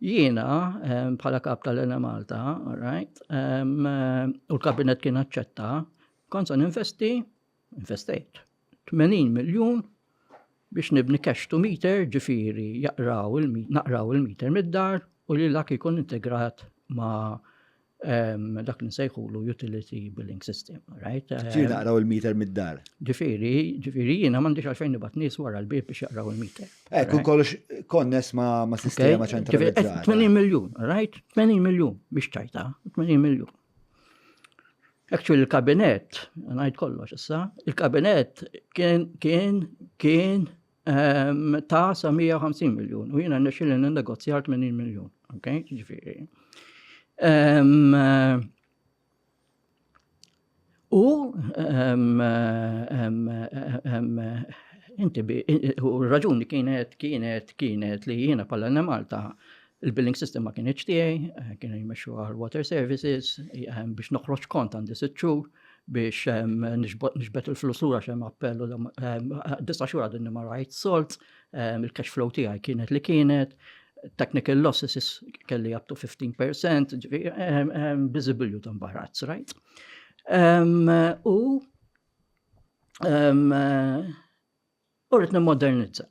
Jiena, bħala Kap tal-Enemalta, alright, u l-Kabinett kien aċċetta, kont se ninvesti, investejt, 80 miljun biex nibni cash to meter ġifiri jaqraw il-meter mid-dar u li l-ak jkun integrat ma' dak li nsejħulu utility billing system, right? Ġifieri naqraw il-meter mid-dar. Ġifieri, ġifieri jiena m'għandix għalfejn nibgħat nies wara l-bib biex jaqraw il-meter. Ekk, u kollox konnes ma' sistema ċentralizzata. 80 miljun, right? 80 miljun biex tajta, 80 miljun. Actually, il-kabinet, ngħid kollox issa, il-kabinet kien kien kien ta' sa 150 miljun u jiena nexxilli negozjar 80 miljun. Ok, ġifieri. U inti u raġuni kienet kienet kienet li jiena pal Malta Il-billing system ma kinitx tiegħi, kienu jmexxuha l-Water Services, biex noħroġ kont għandi sitt xhur biex nixbet il-flus lura xem appellu disa xhur għadni ma rajt solt, il-cash flow tiegħi kienet li kienet, technical losses kelli up to 15%, visible you don't buy rats, right? U U rrit nimmodernizza.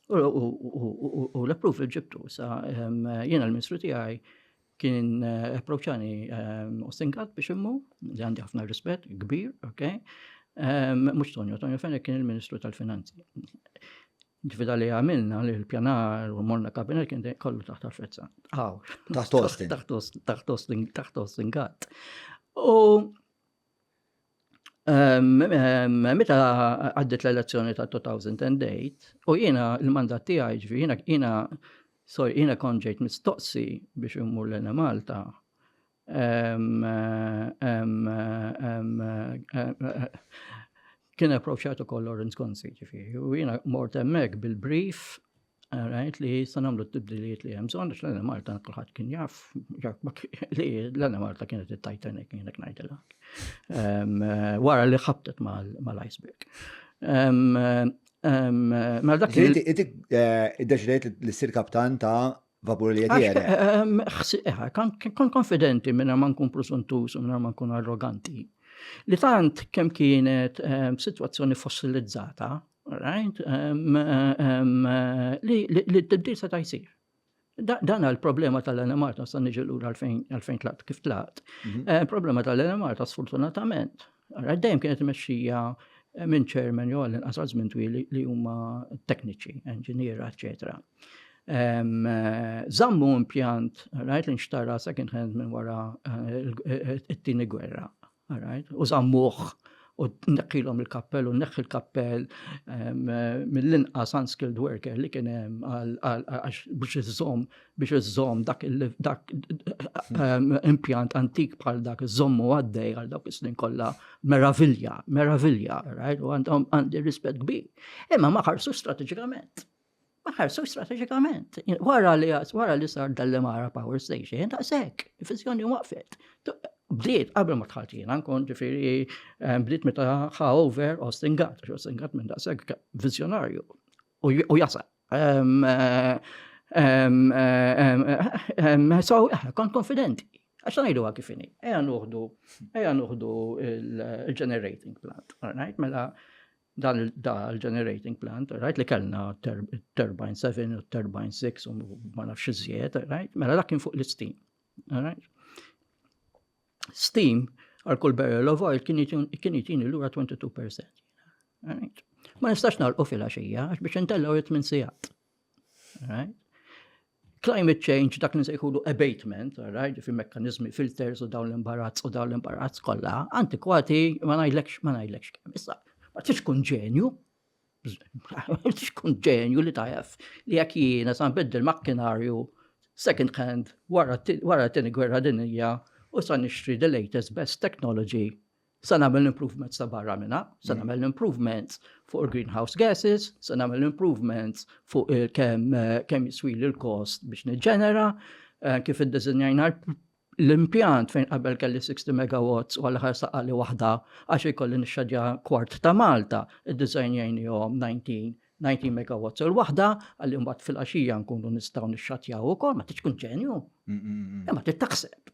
U l-appruf ġibtu, sa jiena l-ministru tiegħi kien eh, approċani ehm, u sinkat biex immu, li għandi ħafna rispett, kbir, ok? Ehm, Mux Tonio, Tonio Fenech kien il-Ministru tal-Finanzi. Ġvida li għamilna li l-pjanar u morna kabinet kien kollu taħt għafrezza. Għaw. Taħt ostin. Taħt ostin, taħt ostin għat. U Meta għaddit l-elezzjoni ta' 2008 u jiena l-mandat tiegħi ġifi jiena jiena sorry jiena kont ġejt mistoqsi biex immur l Malta. Kien approċċat ukoll Lawrence Gonzi ġifi u jiena mort hemmhekk bil-brief Għajt li jista namlu t-tibdilijiet li hemm bżonn, għax l-Enemalta kulħadd kien jaf, li l-Enemalta kienet it-Titanic kienek ngħidilha. Ehm, eh, wara li ħabtet mal-iceberg. Ehm, ehm, mela dak kien. Inti eh, iddeċidejt li ssir kaptan ta' vapur li qed eh, Kon konfidenti minna ma nkun prosuntus u minna ma nkun arroganti. Li tant kemm kienet situazzjoni fossilizzata, Right? Um, um, li t-tibdil seta' jsir. Dan għal problema tal-Enemarta, sa' niġi l għalfejn tlaqt kif tlaqt. Mhm. Eh, problema tal-Enemarta, sfortunatament, dejjem kienet meċxija eh, minn ċermen jew għallin qasal żmien twil li huma tekniċi, inġiniera, eċetera. Eh, zammu impjant, rajt li nxtara second hand minn wara it-tieni gwerra. All right? U żammuh u neħħilhom il-kappell u neħħi l-kappell mill-inqas unskilled worker li kien hemm biex iżżomm biex iżżomm dak impjant antik bħal dak iżżommu għaddej għal dawk is-snin kollha meravilja, meravilja, right? U għandhom għandi rispett kbir. Imma ma ħarsu strateġikament. ma ħarsu strateġikament. Wara li wara li sar dal-Lemara Power Station, ta' sekk, il-fizjoni waqfet. Bdiet qabel ma tħaltina nkun ġifieri eh, bdiet meta ħa over Austin Gatt, għax Austin Gatt minn da' sekk vizjonarju u jasal. Ehm, eh, ehm, ehm, eh, so, kont konfidenti. Għax najdu għak kifini, eja nuħdu, eja nuħdu il-generating plant, all right, mela Dan il-generating plant, rajt li kellna turbine 7 u turbine 6 u ma nafx iżjed, rajt, mela dak kien fuq l-istim. Steam għal kull barrel of oil kien jitini l-ura 22%. Ma nistax nalqu fil-axija, għax biex intellaw jitmin sijat. Right? Climate change, dak nsejħulu abatement, right? fi mekkanizmi filters u dawn l-imbarazz u dawn l-imbarazz kollha, antikwati ma ngħidlekx ma ngħidlekx kemm. Issa, ma tix kun ġenju, tix kun ġenju li tajaf li jekk jiena san biddel makkinarju second hand wara t-tini gwerra dinija u san nixtri the latest best technology se nagħmel improvements ta' barra minna, se nagħmel improvements fuq il-greenhouse gases, se nagħmel improvements fuq kemm kem jiswili l-kost biex niġġenera, eh, kif id-dizinjajna l-impjant fejn qabel kelli 60 megawatts u għal-ħar saqali waħda għax ikolli nixxadja kwart ta' Malta, id-dizinjajni jom 19 19 megawatts il waħda għalli mbagħad fil-qaxija nkunu nistgħu nixxatjaw ukoll ma tiġkun ġenju. Imma trid taħseb.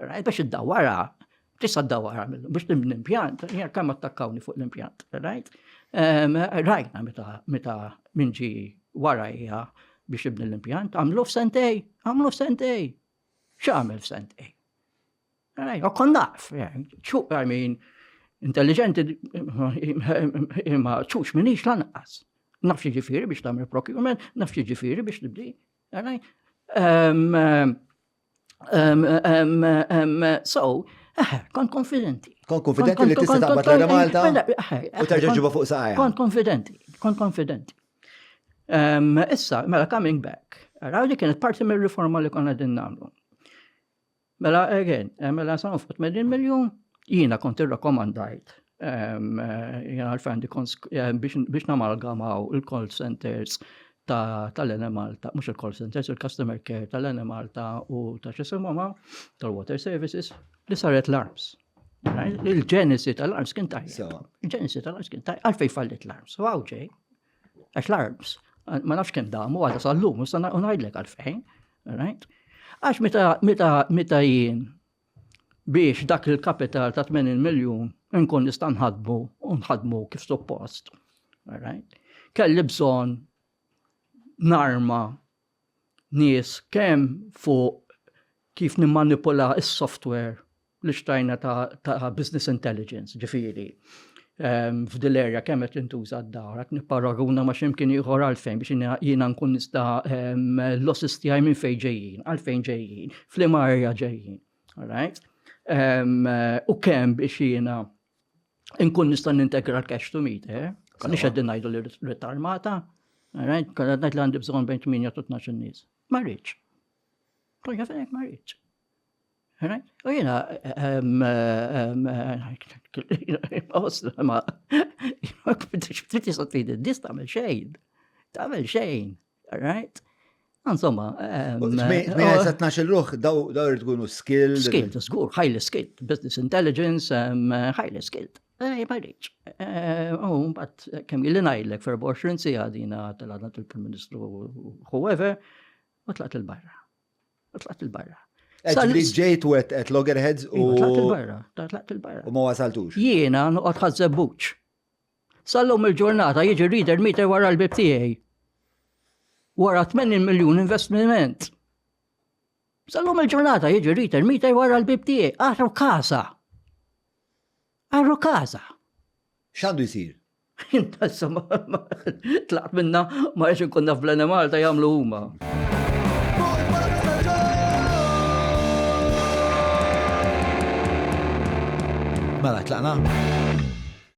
Rajt biex id-dawara, tista' dawara biex tibni impjant, jgħar kemm attakkawni fuq l-impjant, rajt? Rajna meta minn ġi warajja biex ibni l-impjant, għamlu f'sentej, għamlu f'sentej. X'għamel f'sentej? Rajt, u kon naf, ċuq għajmin, intelligenti imma ċuċ minix lanqas. Naf ġifiri biex tamil procurement, naf ġifiri biex tibdi. Rajt? Um, um, um, so, eh, kon konfidenti. Kon konfidenti li tista' taqbad l Malta mela, eh, eh, u terġa' ġibu fuq saqajja. Kon konfidenti, kon konfidenti. Issa, mela coming back. Raw li kienet parti mir-riforma li konna din nagħmlu. Mela, again, mela sa' nfut mill-miljon, jina kont irrakomandajt Jena għalfejn għandi kons biex namalgamaw il-call centers tal-Enemalta, mux il-call centers, il-customer care tal-Enemalta u ta' xisimoma tal-water services li saret l-arms. Il-ġenesi tal-arms kien tajjeb. Il-ġenesi tal-arms kien tajjeb. Għalfej fallit l-arms. U għawġej. Għax l-arms. Ma nafx kem damu għadha sal-lum. Unajdlek għalfejn. Għax meta jien biex dak il-kapital ta' 80 miljun nkun nista' nħadmu u nħadmu kif suppost. Kelli bżonn narma nies kemm fuq kif nimmanipula s-software li xtajna ta' business intelligence, ġifiri. Ehm, f'dil erja kemm qed intuża d-dawra, nipparaguna ma' x'imkien ieħor għalfejn biex jiena nkun nista' ehm, l-losses tiegħi minn fejn ġejjin, għalfejn ġejjin, f'liema erja ġejjin. Alright? Ehm, u kemm biex jiena nkun nista' nintegra l-cash to meet, eh? Konni xeddin ngħidu li rrid armata, alright? Konna ngħid li għandi bżonn bejn 8 u 12 nies. Ma rridx. Konna fejn ma rridx. U jina, ma, ftit jisot fidi, dis tamel xejn, tamel xejn, right? Insomma, mela sa 12 ruħ daw daw tkunu skill. Skill, żgur, highly skilled, business intelligence, highly skilled. Ej, ma rridx. U mbagħad kemm jilli ngħidlek for 24 sija dina tal-għadna tal-Prim Ministru whoever, u tlaqt il-barra. U tlaqt il-barra. Ġli ġejt u għet loggerheads u. Iva, tlaqt il-barra, tlaqt il-barra. U ma wasaltux. Jiena nuqot ħazzebbuċ. Sallum il-ġurnata jiġi reader meter wara l-bib tiegħi. Wara 80 miljun investiment. Sallum il-ġurnata jiġi reader meter wara l-bib tiegħi. Aħru kasa. Għarru kaza! X'għandu jsir? Inta insomma, tlaqt minna ma għax nkun naf bl Malta jagħmlu huma. Mela, tlaqna?